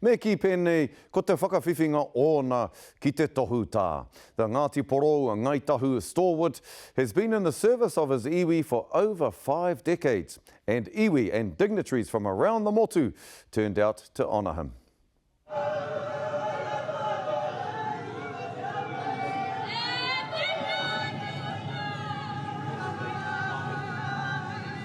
Me kī pēnei, ko te whakawhiwhinga ōna ki te tohu tā. The Ngāti Porou a Ngāi Tahu stalwart has been in the service of his iwi for over five decades, and iwi and dignitaries from around the motu turned out to honour him.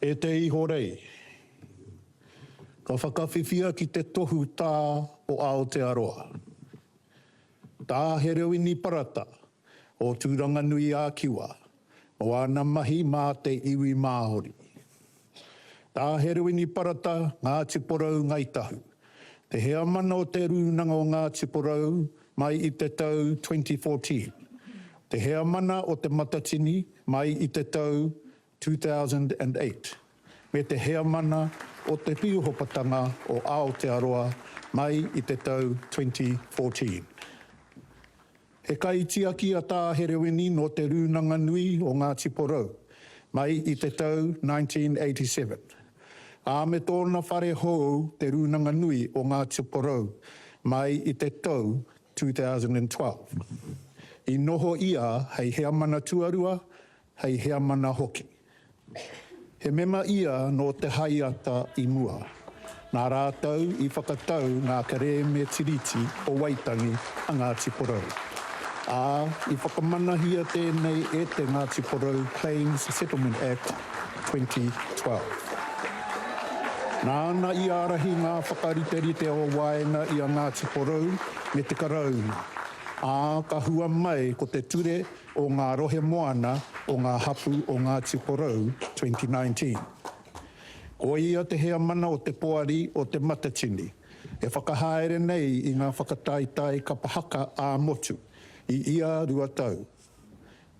E te Ihorei, ka whakawhiwhia ki te tohu tā o Aotearoa. Tā Herewini Parata o Tūranganui-ā-Kiwa o āna mahi mā te iwi Māori. Tā Herewini Parata, Ngāti Porou, Ngāi Tahu, te heamana o te Rūnanga o Ngāti Porou Mai i te tau 2014, te Heamana o Te Matatini mai i te tau 2008, me te Heamana o Te Pīhopatanga o Aotearoa mai i te tau 2014. He kaitiaki a Tā Hereweni nō Te Rūnanga Nui o Ngāti Porou mai i te tau 1987. ā, me tōna whare hou Te Rūnanga Nui o Ngāti Porou mai i te tau 2012. I noho ia hei heamana tuarua, hei heamana hoki. He mema ia nō te Haiata i mua, nā rātou i whakatau ngā kerēme Tiriti o Waitangi a Ngāti Porou, ā, i whakamanahia tēnei e te Ngāti Porou Claims Settlement Act 2012. Nāna i ārahi ngā whakariterite o waenga i a Ngāti Porou me te Karauna, ā, ka hua mai ko te Ture o ngā Rohe Moana o ngā Hapū o Ngāti Porou 2019. Ko ia te heamana o te Poari o Te Matatini e whakahaere nei i ngā whakataetae kapa haka ā-motu i ia rua tau.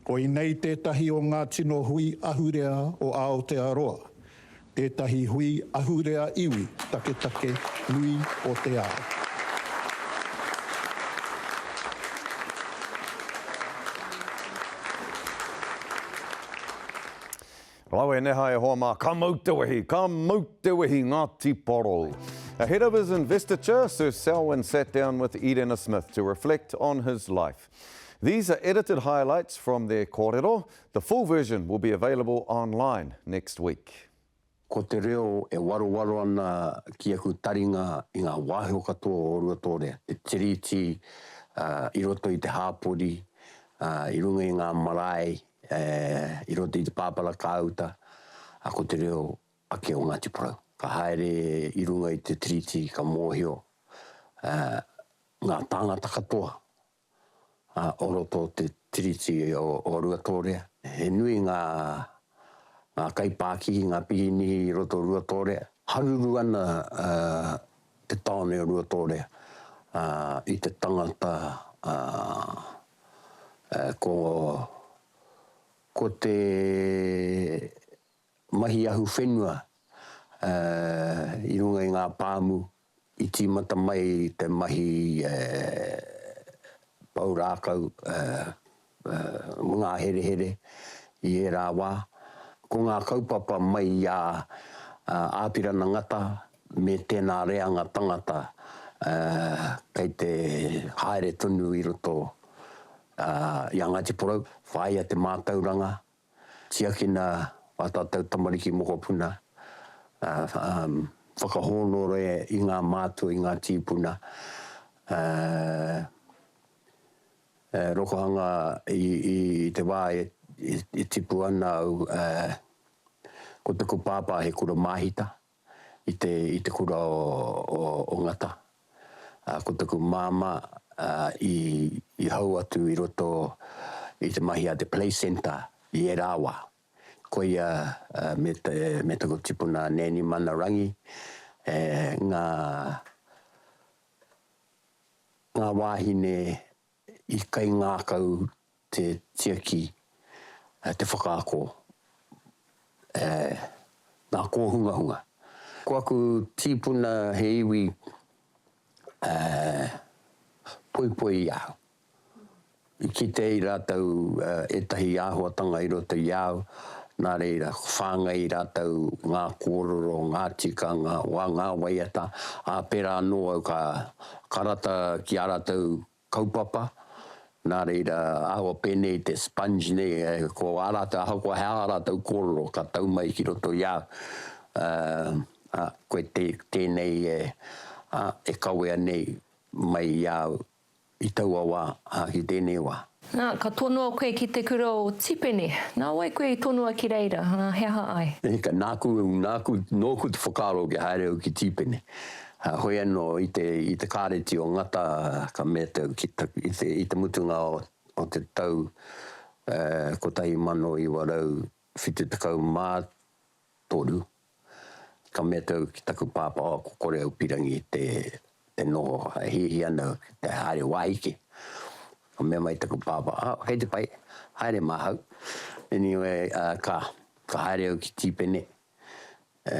Koinei tētahi o ngā tino hui ahurea o Aotearoa, tētahi hui ahurea iwi taketake nui o te ao. Rawe neha e hoa mā, ka mau te wehi, ka mau te wehi Ngāti Porou. Ahead of his investiture, Sir Selwyn sat down with Irena Smith to reflect on his life. These are edited highlights from their kōrero, the full version will be available online next week. Ko te reo e warowaro ana ki aku taringa i ngā wāhio katoa o Ruatōrea, te Tiriti, i roto i te hāpori, i runga i ngā marae, i roto i te pāpara kāuta, ko te reo ake o Ngāti Porou. Ka haere i runga i te Tiriti ka mōhio ngā tāngata katoa o roto o te Tiriti o Ruatōrea. He nui ngā kaipākihi, ngā pirinihi i roto o Ruatōrea. Haruru ana te tāone o Ruatōrea i te tangata ko te mahi ahu whenua i runga i ngā pāmu i tīmata mai te mahi pou rākau ngaherehere i ērā wā. Ko ngā kaupapa mai i a Āpirana Ngata me tēnā reanga tangata kei te haere tonu i roto i a Ngāti Porou, whāia te mātauranga Tiakina ā tātou tamariki mokopuna, whakahōnore i ngā mātua, i ngā tīpuna, e rokohanga i te wā e tipu ana au, ko taku pāpā he kura māhita. i te i te kura o o Ngata a ko taku mama a i i hau atu i roto i te mahi a te play centre i era wa koia a me te me taku tipuna Nanny Mana Rangi e nga nga wahine I kaingākau te tiaki, te whakaako, e ngā kōhungahunga. Ko aku tīpuna he iwi poipoi i ahau. I kite ai rātou ētahi āhuatanga i roto i a au, nā reira, whāngai rātou ngā kōrero, ngā tikanga, wā ngā waiata, ā, pērā anō au ka Ka rata ki ā rātou kaupapa, nā reira, ahakoa pēnei te sponge nei, ko ā rātou, ahakoa he aha ā rātou kōrero, ka tau mai ki roto i a au, ā, koe tēnei e kawea nei mai i a au i taua wā, ā, ki tēnei wā. Nā, ka tonoa koe ki te kura o Tipene. Nā wai koe i tonoa ki reira, ā, he aha ai? E hika, nāku, nāku, nōku te whakaaro kia haere au ki Tipene. Ā, hoi anō, i te, i te Kāreti o Ngata, ka mea te, ki te, i te, i te mutunga o, o te tau, ā, 1973, Ka mea te au ki taku pāpā ko kore au pirangi te te noho e hiahia ana te haere wāhi ke. Ka mea mai taku pāpā, a, kei te pai, haere māhau. Anyway, a, ka, ka haere au ki Tīpene, e,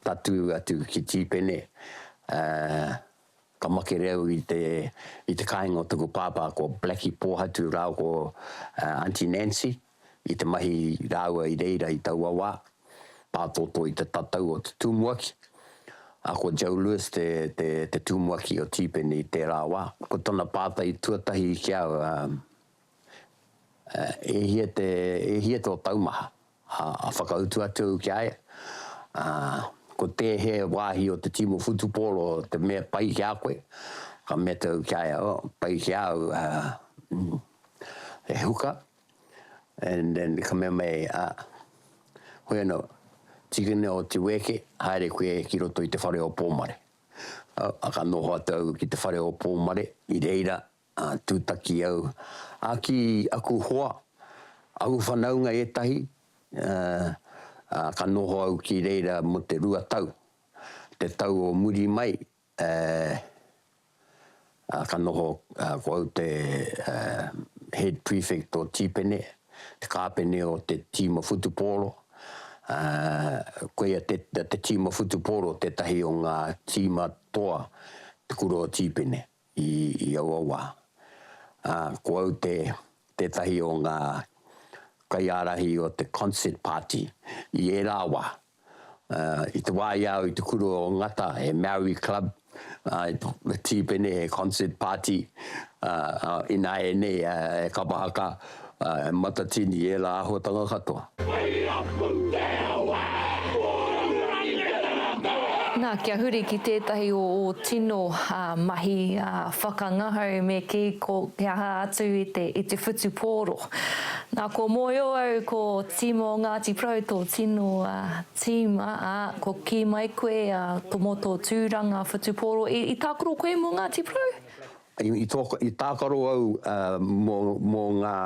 tatū atu ki Tīpene, a, ka makere au i te, i te kāinga o taku pāpā ko Blackie Pōhatu rāua ko, a, Aunty Nancy. i te mahi rāua i reira i taua wā, pātōtō i te tatau o te tumuaki, ā, ko Joe Lewis te, te, te tumuaki o Tīpeni i tērā wā. Ko tana pātai tuatahi ki au, ā, ā, e hia te, e hia tō taumaha? Ā, ā whakautu atu au ki a ia, ā, ko tēhē wāhi o te tīma whutupōro te mea pai ki a koe? Ka mea atu au ki a ia, oh, pai ki a au, ā, mm, he huka, and then ka mea mai, a, hoi ano, tikina o te weke, haere koe ki roto i te whare o Pomare. Au, a ka noho atu au ki te whare o Pomare, i reira, a, tutaki au, a ki aku hoa, aku whanaunga etahi, a, a ka noho au ki reira mo te rua tau, te tau o muri mai, Ā, ka noho ko au te Head Prefect o Tīpene, te kāpene o te tīma whutupōro. Koia te, te tīma whutupōro tētahi o ngā tīma toa te kura o Tīpene i, i aua wā. Ā, ko au te, tētahi o ngā kaiārahi o te Concert Party i ērā wā. I te wā i a au i te kura o Ngata, he Maori Club, he tīpene, he concert party, ināianei e kapa haka, e matatini, ērā āhuatanga katoa. Nā, kia huri ki tētahi o ō tino mahi whakangahau me kī ko te aha atu i te whutupōro. Nā, kua mōhio au ko team o Ngāti Porou tō tino team, ā, kua kī mai koe mō tō tūranga whutupōro, i tākaro koe mō Ngāti Porou? I tākaro au mō ngā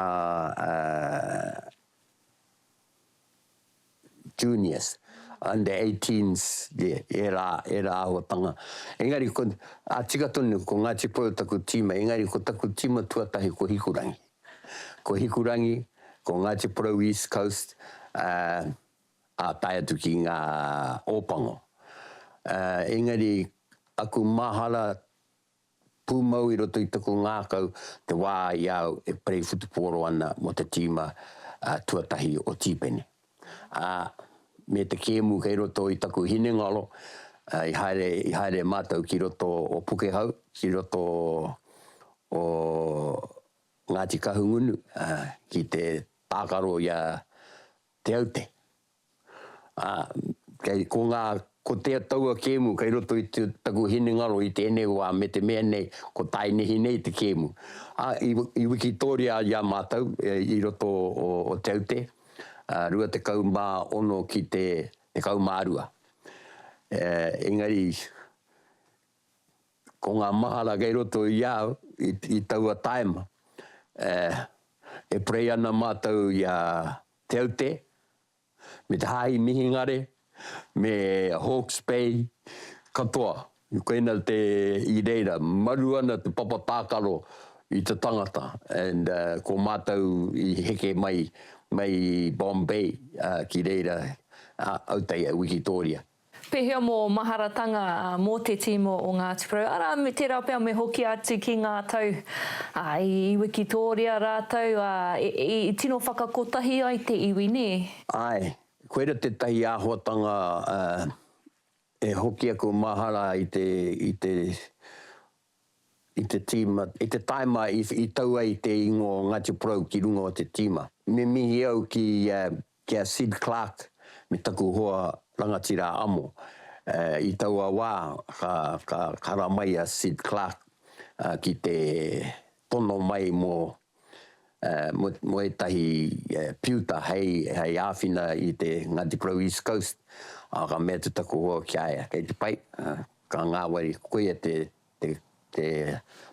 juniors, under eighteens, ērā, ērā āhuatanga. Engari, ko, ā, tika tonu, ko Ngāti Porou taku tīma, engari ko taku tīma tuatahi ko Hikurangi. Ko Hikurangi, ko Ngāti Porou East Coast, ā, ā tae atu ki ngā Ōpango. Ā, engari, aku mahara pūmau i roto i taku ngākau te wā i a au e perei whutupōro ana mō te tīma tuatahi o Tīpeni. Ā, me te kēmu kei roto i taku hinengaro, i haere, i haere mātou ki roto o Pukehau, ki roto o Ngāti Kahungunu, ki te tākaro i a Te Aute. ā, kei, ko ngā, ko te taua kēmu kei roto i te, taku hinengaro i tēnei wā me te mea nei ko Taenehi nei te kēmu. Ā, i, i wikitōria i a mātou i roto o, o Te Aute, ā, 26 ki te 12. Ē, engari, ko ngā mahara kei roto i a au i, i taua tāima, ē, e prei ana mātou i a Te Aute, me te Hāhi Mihingare, me Hawke's Bay, katoa, koina te, i reira, maru ana te papa tākaro i te tangata, and ko mātou i heke mai, mai Bombay ki reira, Aoteia, Wikitōria. Pēhea mō maharatanga mō te tīma o Ngāti Porou, arā, tērā pea me hoki atu ki ngā tau i wikitōria rātou, ā, i tino whakakotahi ai te iwi, nē? Āe, koira tētahi āhuatanga e hoki aku mahara i te, i te, i te tīma, i te tāima i tau ai te ingoa o Ngāti Porou ki runga o te tīma. Me mihi au ki Ki a Sid Clark me taku hoa rangatira amo. I taua wā ka kara mai a Sid Clark ki te tono mai mō ētahi piuta hei āwhina i te Ngāti Porou East Coast, ā, ka mea te taku hoa ki a ia, kei te pai, ka ngāwari, koia te te te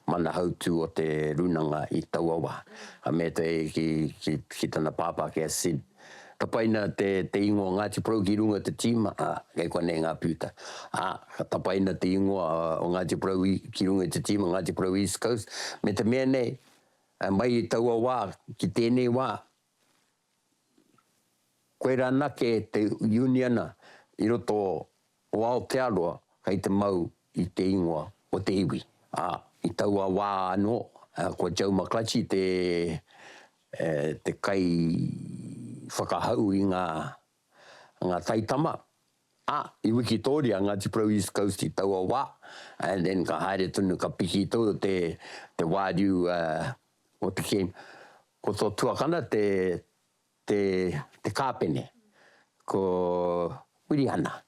mana hautū o te rūnanga i taua wā. Ka mea te ki ki ki tana pāpā ki a Sid, ka paina te te ingoa Ngāti Porou ki runga te tīma, ā, kei konei ngā pūta. Ā, ka tapaina te ingoa o Ngāti Porou i ki runga i te tīma Ngāti Porou East Coast, me te mea nei, mai i taua wā ki tēnei wā, Koirā anake te uniana i roto o Aotearoa kei te mau i te ingoa o te iwi. Ā, i taua wā anō, ko Joe McClutchie te kaiwhakahau i ngā ngā taitama, ā, i wikitōria a Ngāti Porou East Coast i taua wā, and then ka haere tonu, ka piki tonu te, te wāriu o te king. Ko tō tuakana te, te, te kāpene, ko Wirihana.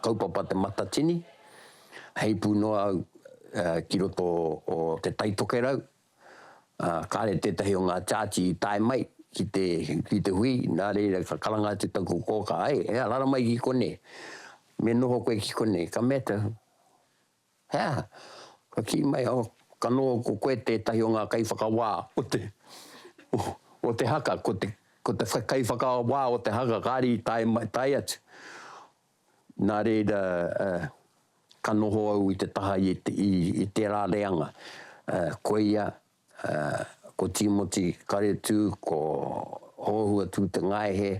Kaupapa Te Matatini, heipū noa au ki roto o Te Tai Tokerau, ā, kāre tētahi o ngā Church i tae mai ki te, ki te hui, nā reira ka karanga atu taku kōkā, ē, ē, rara mai ki konei, me noho koe ki konei, ka mea, He aha? Ka kī mai au, Ka noho ko koe tētahi o ngā kaiwhakawā o te, o te haka, ko te, ko te kaiwhakawā o te haka, kāre i tae mai, tae atu. Nā reira, ka noho au i te taha i, i, i tērā reanga. Koia Ko Tīmoti Karetū, ko Hōhua Tūtengaehe,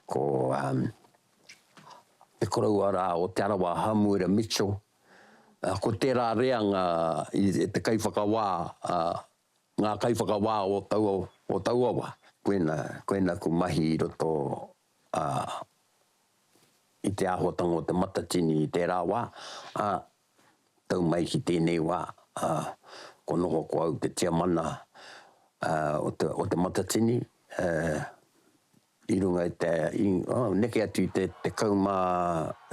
ko te koroua rā o Te Arawa Hamuera Mitchell, ko tērā reanga i te kaiwhakawā, ngā kaiwhakawā o taua, o taua wā. Koina, koina aku mahi i roto i te āhuatanga o te matatini i tērā wā, ā, tau mai ki tēnei wā, ā, kua noho ko au te tiamana, ā, o te, o te Matatini, ā, i runga i te, i, ā, neke atu i te tekau mā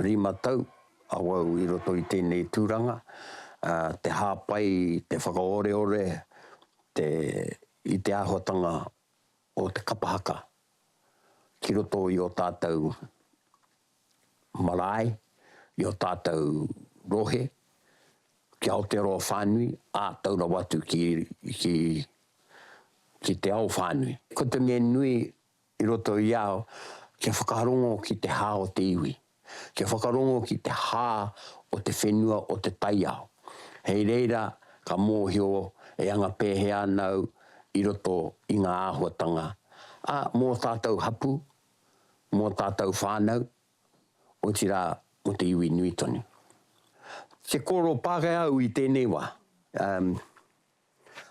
rima tau awau i roto i tēnei tūranga, ā, te hāpai, te whakaoreore, te, i te āhuatanga o te kapa haka ki roto i ō tātau marae, i ō tātou rohe, ki Aotearoa whānui, ā, tau rawa atu ki, ki, ki te ao whānui. Ko te mea nui i roto i a au, kia whakarongo ki te hā o te iwi, kia whakarongo ki te hā o te whenua o te taiao. Hei reira ka mōhio e anga pēhea ana au i roto i ngā āhuatanga, ā, mō tātou hapū, mō ō tātou whānau, otirā mō te iwi nui tonu. Te kōrero Pākehā au i tēnei wā, umm,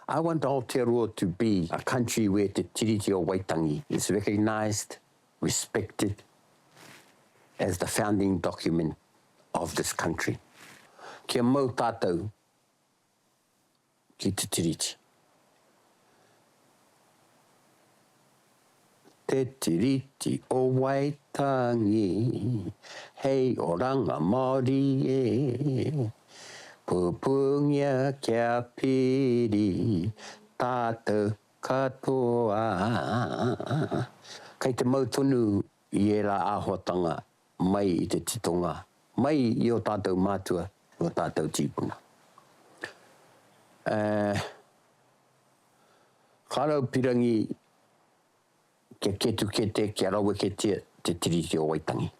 I want Aotearoa to be a country where te Tiriti o Waitangi is recognised, respected as the founding document of this country. Kia mau tātou ki te Tiriti. Te Tiriti o Waitangi hei oranga Māori e pupūngia kia piri tātou katoa. Kei te mau tonu i ērā āhuatanga mai i te titonga, mai i ō tātou mātua, i ō tātou tīpuna. Eh, ka raupirangi kia ketukete, kia raweketia te Tiriti o Waitangi.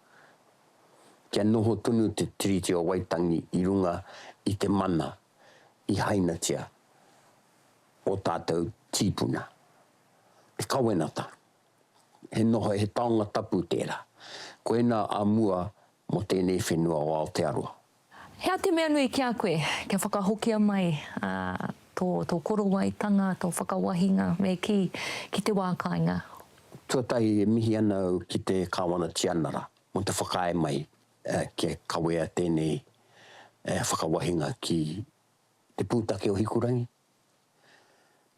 Kia noho tonu te Tiriti o Waitangi i runga i te mana i hainatia ō tātou tīpuna. Te kawenata, he noho, he taonga tapu tērā. Koinā a mua mō tēnei whenua o Aotearoa. Hea te mea nui ki a koe kia whakahokia mai tō, tō korowaitanga, tō whakawahinga me kī, ki te wā kāinga? Tuatahi e mihi ana au ki te Kāwana Tianara mō te whakaae mai kia kawea tēnei whakawahinga ki te pūtake o Hikurangi,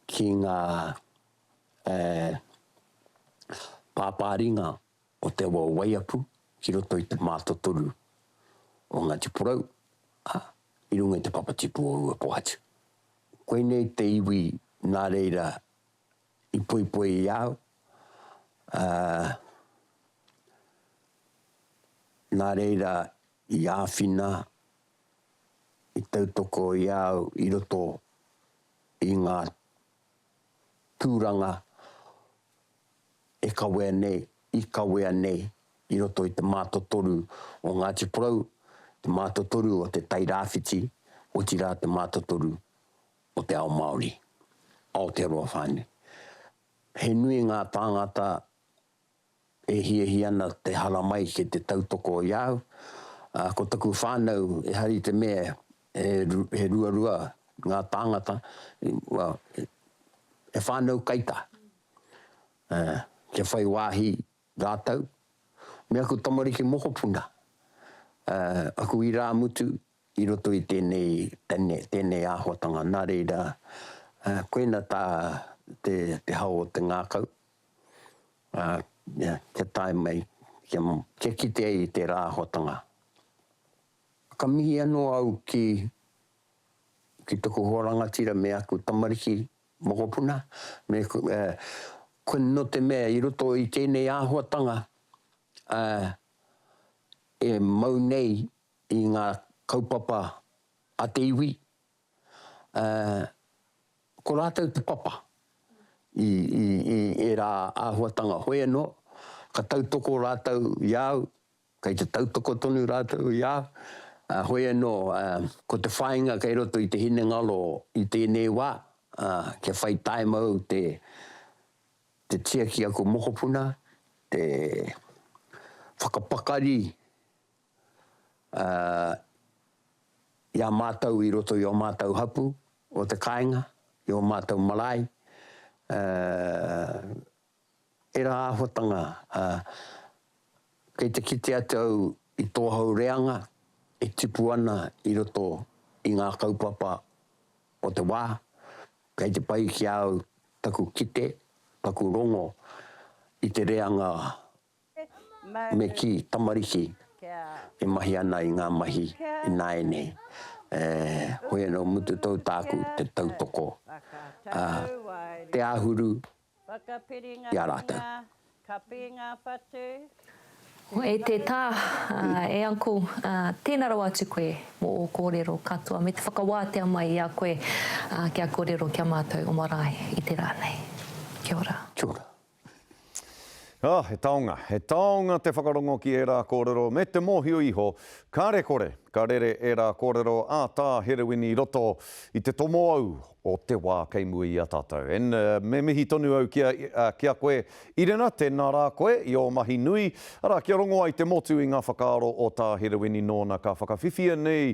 ki ngā e pāpā ringa o Te Awa o Waiapu ki roto i te mātotoru o Ngāti Porou, ā, i runga i te papatipu o Ruapōhatu. Koinei te iwi nā reira i poipoi i a au, ā, nā reira i āwhina, i tautoko i a au i roto i ngā tūranga e kawea nei, i kawea nei i roto i te mātotoru o Ngāti Porou, te mātotoru o Te Tai Rāwhiti, otirā te mātotoru o te ao Māori, Aotearoa whānui. He nui ngā tāngata E hiahia ana te haramai ki te tautoko i a au, ā, ko taku whānau, ehara i te mea he ruarua ngā tāngata, well, he whānau kaitā, ā, kia whai wāhi rātou me aku tamariki mokopuna, ā, aku irāmutu, I roto i tēnei, tēnei āhuatanga, nā reira, koina tā te, te hao o te ngākau, ā, kia tae mai, kia, kia kite ai i tērā āhuatanga. Ka mihi anō au ki, ki taku hoa rangatira me aku tamariki mokopuna, me, ko, nō te mea i roto i tēnei āhuatanga, ā, e mau nei i ngā kaupapa a te iwi, ā, ko rātou te papa i, i, i ērā āhuatanga hoe anō, ka tautoko rātou i a au, kei te tautoko tonu rātou i a au, ā, hoe anō, ā, ko te whāinga kei roto i te hinengaro i tēnei wā, ā, kia whai taimau te, te tiaki a ko mokopuna, te whakapakari ā, i a mātou i roto i ō mātou hapū o te kāinga, i ō mātou marae, ā, ērā āhuatanga, ā, kei te kite atu au i tō hau reanga e tipu ana i roto i ngā kaupapa o te wā, kei te pai ki a au taku kite, taku rongo i te reanga Me kī, Tamariki e mahi ana i ngā mahi ināianei, hoi anō mutu tou tāku te tautoko, ā, te āhuru i a rātou. Hoi te tā, E uncle, tēnā rawa atu koe mō ō kōrero katoa me te whakawātea mai i a koe kia kōrero ki a mātou o marae i te rā nei. Kia ora. Kia ora. Oh, he taonga, he taonga te whakarongo ki ērā kōrero me te mōhio iho kāre kore ka rere ērā kōrero a Tā Herewini i roto i te tomo au o te wā kei mua i a tātou. And me mihi tonu au ki a, ki a koe Irena, tēnā rā koe i ō mahi nui, arā kia rongo ai te motu i ngā whakaaro o Tā Herewini nōna ka whakawhiwhia nei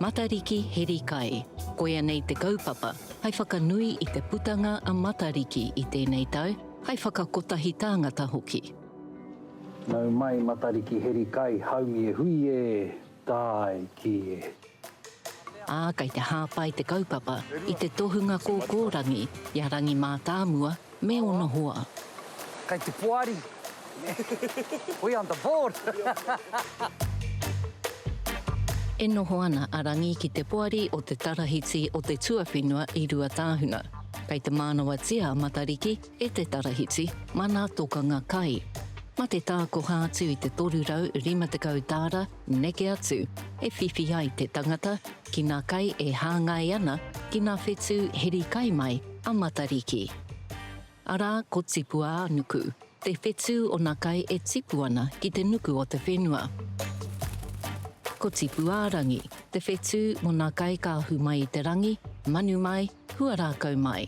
Matariki Heri Kai Koia nei te kaupapa hai whakanui i te putanga a Matariki i tēnei tau, hai whakakotahi tāngata hoki. Nau mai Matariki Heri Kai, haumi e hui e! Tae ki e. Ā, kei te hāpai te kaupapa i te tohunga kōkōrangi i a Rangi Mātāmua me ōna hoa. Kei te poari. We on the board! E noho ana a Rangi ki te poari o te tarahiti o te tuawhenua i Ruatāhuna. Kei te mānawatia a Matariki, E te Tarahiti, mana tokanga kai. Ma te tākoha atu i te 350 tāra neke atu, e whiwhi ai te tangata ki nā kai e hāngai ana ki nā whetū heri kai mai a Matariki. Arā, ko Tipu-ā-nuku, te whetū o nā kai e tipu ana ki te nuku o te whenua. Ko Tipu-ā-rangi, te whetū mo nā kai ka ahu mai i te rangi, manu mai, Hua rākau mai.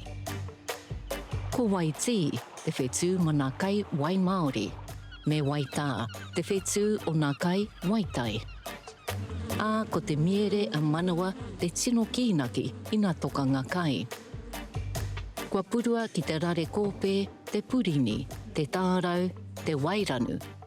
Ko wai tī, te whetū ma nā kai wai māori. Me wai tā, te whetū o nā kai wai tai. Ā, ko te miere a Manawa te tino kīnaki ina toka ngā kai. Kua purua ki te rare kōpē, te purini, te tārau, te wairanu,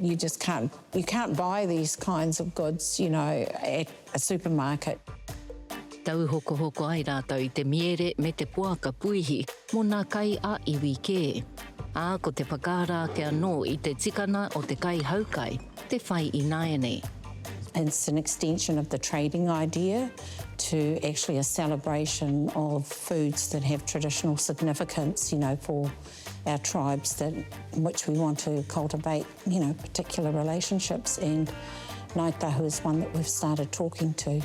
You just can't, you can't buy these kinds of goods, you know, at a supermarket. Tauhokohoko ai rātou i te miere me te poaka puihi mō nā kai ā iwi kē. Ā, ko te whakaara ake anō i te tikana o te kaihaukai te whai ināianei. It's an extension of the trading idea to actually a celebration of foods that have traditional significance, you know, for our tribes that in which we want to cultivate, you know, particular relationships and Ngāi Tahu is one that we've started talking to.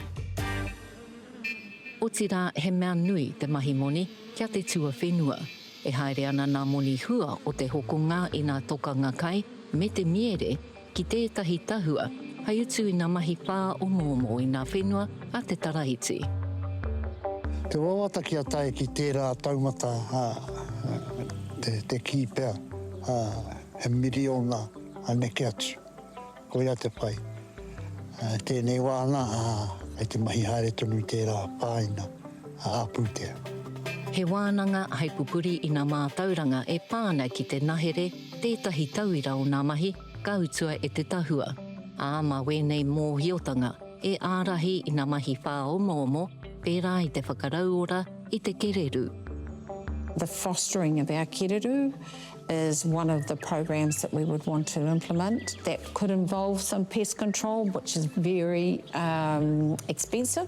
Otirā he mea nui te mahi moni ki a te tuawhenua. E haere ana ngā moni hua o te hokonga i ngā tokanga kai me te miere, ki tētahi tahua hei utu i ngā mahi whāomoomo i ngā whenua a te Tarahiti. Te wawata kia tae ki tērā taumata, te kī pea, he miriona a neke atu. Koia te whai. Tēnei wā ana, kei te mahi haere tonu i tērā pāina ā-pūtea. He wānanga hei pupuri i ngā mātauranga e pā ana ki te nahere, tētahi tauira o ngā mahi ka utua e te tahua, ā, mā wēnei mōhiotanga e ārahi i ngā mahi whāomoomo, pērā i te whakarauora i te kererū. The fostering of our kererū is one of the programs that we would want to implement. That could involve some pest control, which is very expensive.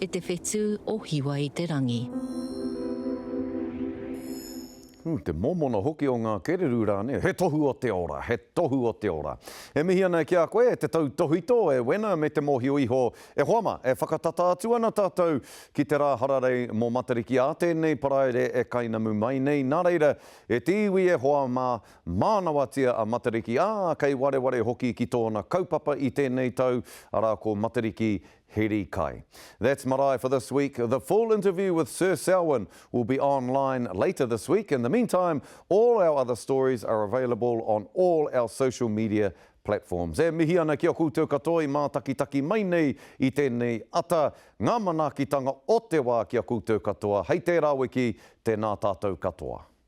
E te whetū o Hiwa-i-te-rangi. Ooh, te mōmona hoki o ngā kererū rānei, he tohu o te ora, he tohu o te ora. E mihi ana ki a koe, e te tautohito, e Wena me te mōhio iho. E hoa mā, e whakatata atu ana tātou ki te rā hararei mō Matariki ā tēnei Paraire e kainamu mai nei, nā reira, e te iwi e hoa mā, mānawatia a Matariki, ā, kei wareware hoki ki tōna kaupapa i tēnei tau, arā ko Matariki Heri kai. That's marae for this week. The full interview with Sir Selwyn will be online later this week. In the meantime, all our other stories are available on all our social media platforms. E mihi ana ki a koutou katoa i mātakitaki mai nei i tēnei ata, ngā manaakitanga o te wā ki a koutou katoa. Hei tērā wiki, tēnā tātou katoa.